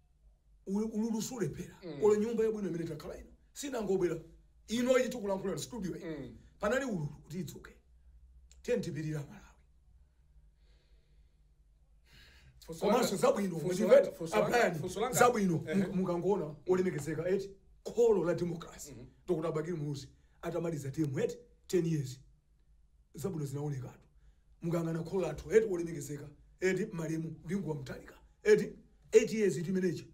ululu siulephera mm. olo nyumba yabwino imene takhala ino sinangobwera ino ili tikulankhula na studio iyi mm. panali ululu kuti idzuke tiyeni tipirire malawi komanso zabwino zabwino mukangoona olemekezeka eti kholo la democracy mm -hmm. dr bakiri muluzi atamaliza term eti 10 years zabwino zinaonekatu mukayang'ana kholo lathu eti wolemekezeka eti malemu bingu wa Mutharika eti 8 years eti imeneyi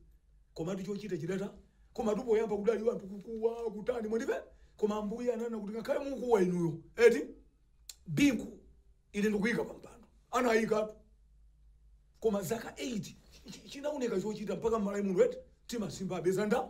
komatu chochita chidata komatu poyamba kudali wanthu kukuwa kutani mwandive koma ambuye ananena kuti ngakhale mukuwa inuyo eti bingu ine ndikuyika pampando anayikatu koma zaka 8 chi- chinaoneka chochita mpaka mmalawi munthu eti timasimba apeza nda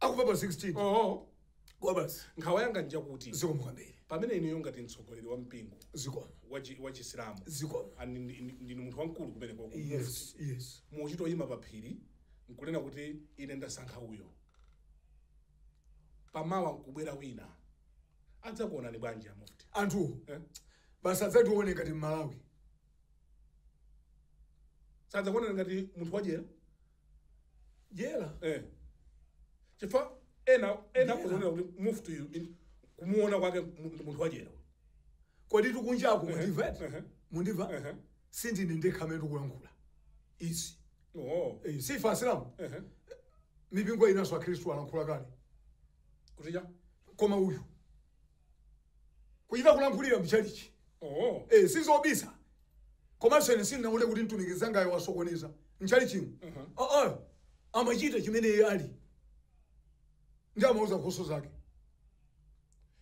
akufa pa 16 oho kwa basi nkhawa yanga njakuti zikomo kwambiri pamene ineyo ngati mtsogoleri wa mpingo zikomo wachi- wachisilamu zikomo and ndi- ndi- ndinu munthu wamkulu kumene kwa yes yes muchita kuyima pa phiri nkunena kuti ine ndasankha uyo pamawa nkubwera wina adzakuonani bwanji amufti anthu eh? basi adzationa ngati mmalawi sadzakuonani ngati munthu wadyera dyera eh. chifukwa ena ena Dyera. akuzionera kuti mufti uyu in- kumuona kwake mu- ndi munthu wadyera uyu. kodi tikunjako mundimva eti ehe. mundimva Ehe. sindine ndekha amene ndikulankhula izi oh. Eh, si ife asilamu ehe. mipingo inanso akhristu alankhula kale kutija koma uyu kuchita kulankhulira mchalichi oh. e, sizobisa komanso ine sindinaone kuti mtumiki mzangayo wasokoneza mchalichimo uh mhm. ah, -huh. Ah, amachita chimene iye ali ndi amauza nkhosa zake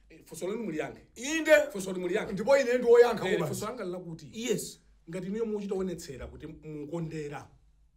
eh, funso lanu muliyankhe inde funso muliyankhe ndipo ine ndi woyankha eh, funso langa lakuti yes ngati inuyo muchita kuonetsera kuti mukondera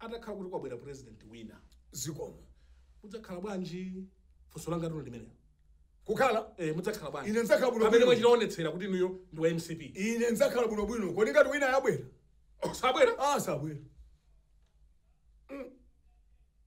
atakhala kuti kwabwera president wina zikomo mudzakhala bwanji funso langa lino limenelo kukhala eh mudzakhala bwanji Ine ndidzakhala bwino pamene bwino. mwachitaonetsera kuti inuyo ndi wa mcp ine ndidzakhala bwino bwino kodi ngati wina yabwera sabwera ah sabwera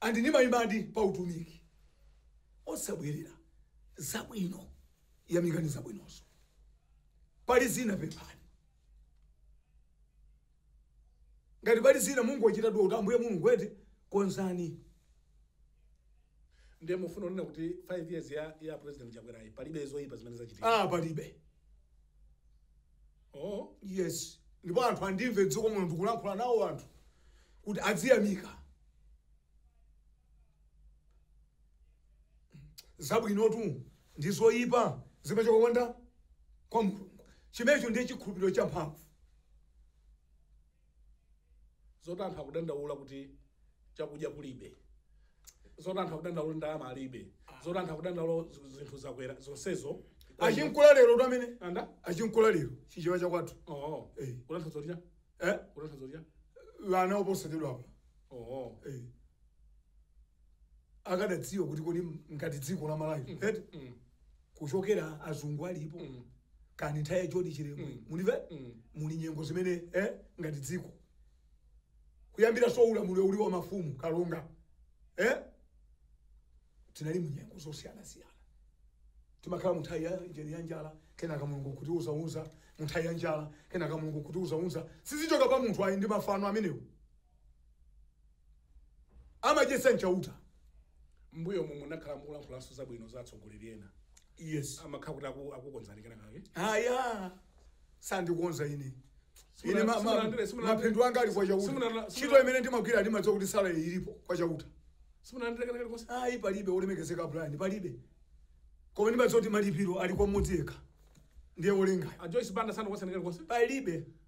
andi ndimayimadi pa utumiki osabwelera zabwino yamikani zabwinozo pali zina pemphani ngati pali zina mungochita dua kuti ambuye mulungu eti konzani ndiye mufuna unena kuti 5 years ya, ya president chakwerayi palibe zoyipa zimene zachitika ah palibe Oh. Yes. Ndipo anthu andimve m'dziko muno ndikulankhula nawo anthu kuti adziyamika. Zabwinotu ndi zoyipa zimachoka kwa nda kwa Mulungu. Chimenecho ndiye chikhulupiriro champhamvu. zoti anthu akudandaula kuti chakudya kulibe zoti anthu akudandaula kuti ndalama alibe zoti anthu akudandaula zi- zinthu zakwera zonsezo achinkula lero tu amene anda achinkula lero chichewa chakwathu oo Eh. kutanthauza kuti cha eh? kutanthauza kuti cha ana oposedwa apa oo Eh. akadadziwa kuti kodi ngati dziko la malawi eti Mm. kuchokera azungu alipo Mm. kani nthawi ya John Chilembwe Mm. mulive Mm. muli nyengo zimene eh, ngati dziko kuyambira so ulamuliro uli wa mafumu kalonga eh? tinali mu nyengo zosiyanasiyana timakhala munthawi ya njeni ya njala kenaka mulungu kutiuzauza munthawi ya njala kenaka mulungu kutiuzauza sizichoka pa munthu ayi ndi mafano amenewo amadyetsa nchauta mbuyo mu munakhala mukulankhulaso zabwino za atsogoleri ena yes amakhala kuti aku- akukonzani kena kake aya sandikonza ine Simuna- ine ma- ma- simunalandire- simunalandire- mapindu anga ali kwa simuna- chauta simuna- ntchito imene ndimagwira ndimadziwa kuti sala ilipo kwa chauta simunalandire kena kake konse ayi palibe olemekezeka brian palibe koma ndimadziwa kuti malipiro ali kwa mmodzi yekha ndiye olengayo a joyce banda sanakonzani kena konse palibe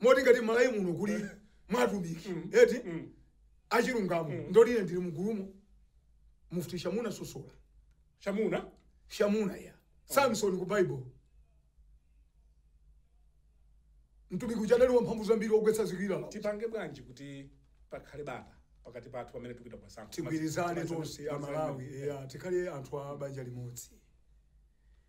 moti ngati mmalawi muno muli atumiki mm. eti mm. achilungamo mm. ndoti ine ndili mugulumo mufti shamuna sosola shamuna shamuna ya oh. samson ku bible mtumiki uja adali wa mphamvu zambiri wogwetsa zikilala tipange bwanji kuti pakhale bata pakati pathu pamene tikupita ku zisankho tigwirizane tonse amalawi tikhale anthu a banja limodzi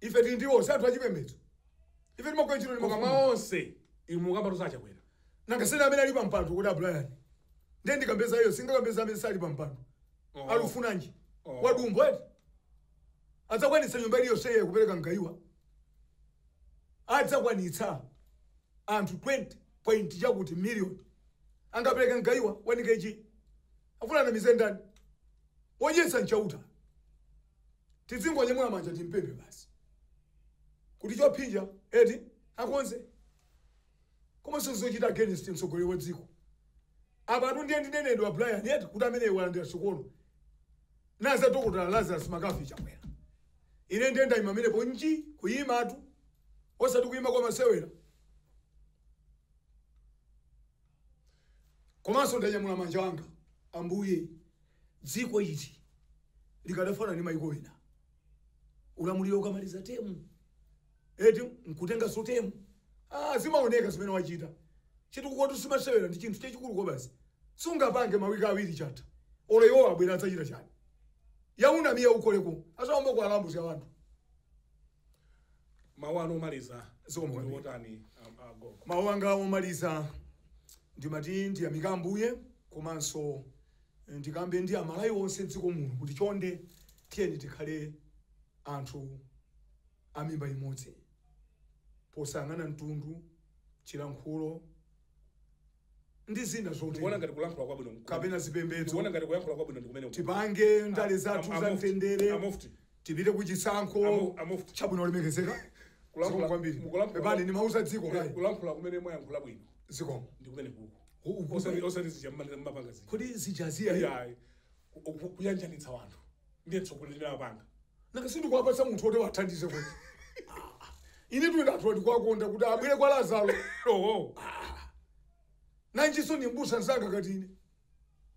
ife tili ndi onse anthu achipembedzo ife timagwira ntchito ndi koma makamu mwa onse inu mukambatu za Chakwera nanga si amene ali pa mpando kuti a Brian ndiye ndikambeza iyo singakambeza amene sali pa mpando Oh. alufunanji Oh. wadumbo eti adzakwanitsa nyumba iliyonse iye kupereka mgayiwa adzakwanitsa anthu 20 point chakuti million angapereka mgayiwa wa nkechi afuna anamize ndani wodyetsa ndi Chauta Tidzingonyamula manja timpembe basi kuti chophinja eti akonze koma sizochita against mtsogoleri wa dziko apatu ndiye ndinene a Brian eti kuti amene walandira sukulu naza dokotala Lazarus McCarthy Chakwera ine ndiye ndayima pamenepo nji kuyimatu osati kuyima kwa masewera Komanso ndanyamula manja anga, Ambuye, dziko ili likadafanana ndi mayiko ena, ulamuliro ukamaliza temu eti nkutenganso temu. Ah, zimaoneka zimene wachita chitukukotu simasewera ndi chinthu chachikulu kwabasi sungapange mawiki awiri chatha olo iwo abwera adzachita chani ya unamiya ukoleko azaomba kwa alambuzi ya wanthu Mawu anu omaliza Zikomo ndi kwambiri. otani a- a Gogo? mawu anga omaliza ndimati ndiyamika ambuye komanso eh, ndikambe ndi Amalawi onse mdziko muno kuti chonde tiyeni tikhale anthu a mimba imodzi posayang'ana mtundu chilankhulo ndi zina zotero. Ndikuona ngati kulankhula kwabwino nkumene. Kapena zipembedzo. Ndikuona ngati kuyankhula kwabwino ndikumene uku. Tipange ndale zathu za mtendere. A mufti. Tipite ku chisankho. A mufti. Chabwino olemekezeka. Kulankhula kwambiri. Mukulankhula. Pepani ndimauza dziko kaya. Kulankhula kumene mwayankhula bwino. Zikomo. Ndikumeneku. Osati osati zija mmapanga zija. Kodi zija zija. Iyayi. ku- ku- kuyanjanitsa wanthu ndiye mtsogoleri ndinapanga nanga sindikuwapatsa munthu woti awathandize kuti ine tuenda anthu andikuwakonda kuti abwere kwa lazaro oho nanjinso ni mbusa mzanga ngati ine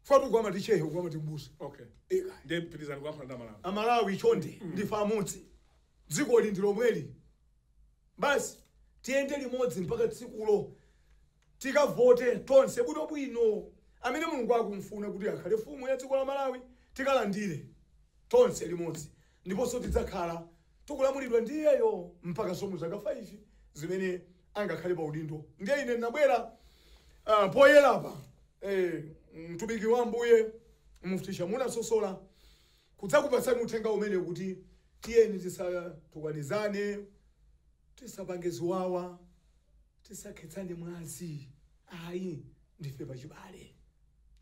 akuti uku amati chehe uku amati mbusa okay eka ndiye pitirizani kuyankhula ndi amalawi amalawi chonde ndife amodzi dzikoli ndi lomweli basi tiyende limodzi mpaka tsikulo Tikavote tonse bwino bwino amene Mulungu akumfuna kuti akhale mfumu ya dziko la Malawi tikalandire tonse limodzi ndiponso tidzakhala tikulamulidwa ndi iyeyo mpakanso mu zaka 5 zimene angakhale pa udindo ndiye ine ndabwera poyerapa mtumiki wa Ambuye Mufti Shamuna Sosola kudzakupatsani uthenga umenewu kuti tiyeni tisatukwanizane tisapange ziwawa. Tisakhetsane mwazi ayi ndife pachibale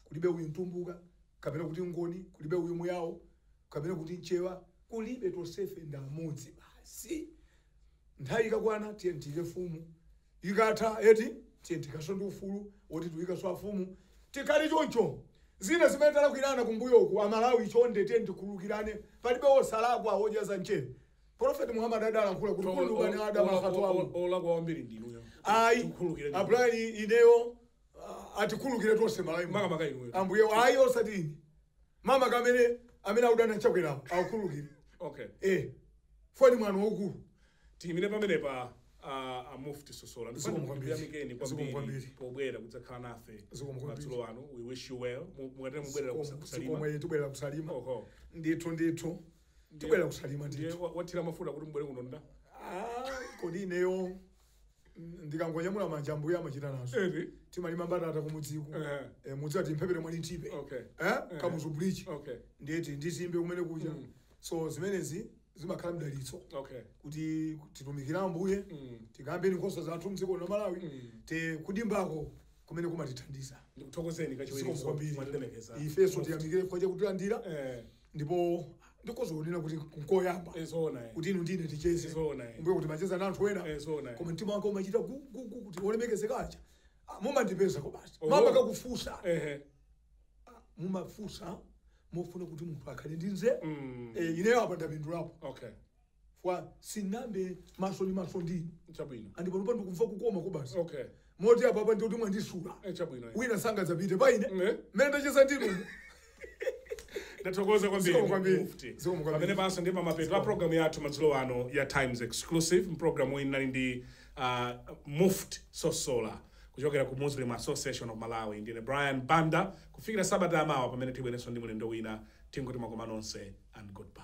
kulibe uyu mtumbuka kapena kuti ngoni kulibe uyu muyao kapena kuti mchewa kulibe tonsefe ndi amodzi basi nthawi ikakwana tiyeni tiyike fumu ikatha eti tiyeni tikhalenso ndi ufulu woti tiyikenso afumu tikhale choncho zina zimene talakwirana kumbuyoku amalawi chonde tiyeni tikhululukirane palibe wosalakwa wodya za mchere Prophet Muhammad adalankhula kuti kulubani adam akhatoamu. Olakwa wambiri ndinuyo. Ayi, Abrani ineyo atikhulukire tonse malayi. Maka maka inuyo. Ambuye ayi osati ine. Mama kamene amene akudana chakwera akukhulukire. Okay. Eh. Foni mwana wokulu. Tiyimire pamene pa uh, a Mufti Sosola. Ndikuyamikeni kwambiri pobwera kudzakhala nafe madzulo ano. We wish you well. Mukatera mubwera kusalima. Ndithu ndithu. tibwera kusalima ndiye ndithu wa- wathira mafuta kuti mbwere kuno nda Ah, kodi ineyo mm, ndikangonyamula manja ambuye amachita nazo eri timalima mbatata kumudziku Eh. Eh, mudzi ati mphepete mwa Linthipe Okay. Eh, kamuzu bridge okay ndiyeti ndizimbe kumene kuja Mm. so zimenezi zimakhala mdalitso okay kuti titumikire ambuye Mm. tikambe nkhosa zathu mdziko la malawi Mm. eti kudimbako kumene kumatithandiza ndikuthokozeni Zikomo kwambiri. kachiwiri ifenso tiyamikire chifukwa chakutilandira eh ndipo ndikhoza kunena kuti nkoyamba Eh, zoona eh. kuti inu ndine ticheze Zoona, eh. mmbuyomu kuti mumacheza na anthu ena Eh, zoona, eh. koma mtima wanga umachita gu- gu- gu- kuti olemekezeka aja Ah, mumandipeza kobasi Oh. makamaka kufunsa Ehe. mumafunsa mofuna kuti munthu akhale ndi nzeru Mm. Eh, ineyo apa ndapindulapo Okay. fukwa sitinayambe maso ndi maso ndi chabwino andi panopa ndikumva kukoma kobasi okay moti apapa ndi kuti mwandisula eh chabwino eh. wina sangadzapite pa ine Eh. mmene ndacheza ndinu ndathokoza kwambiri Zikomo kwambiri. Mufti. Zikomo kwambiri. pamene panso ndi pamapeto a programu yathu madzulo ano ya times exclusive mpulogalamu iyi inali ndi uh, mufti sosola kuchokera ku muslim association of malawi ndine brian banda kufikira sabata yamawa pamene tibwerenso ndi mlendo wina tingoti makoma nonse and goodbye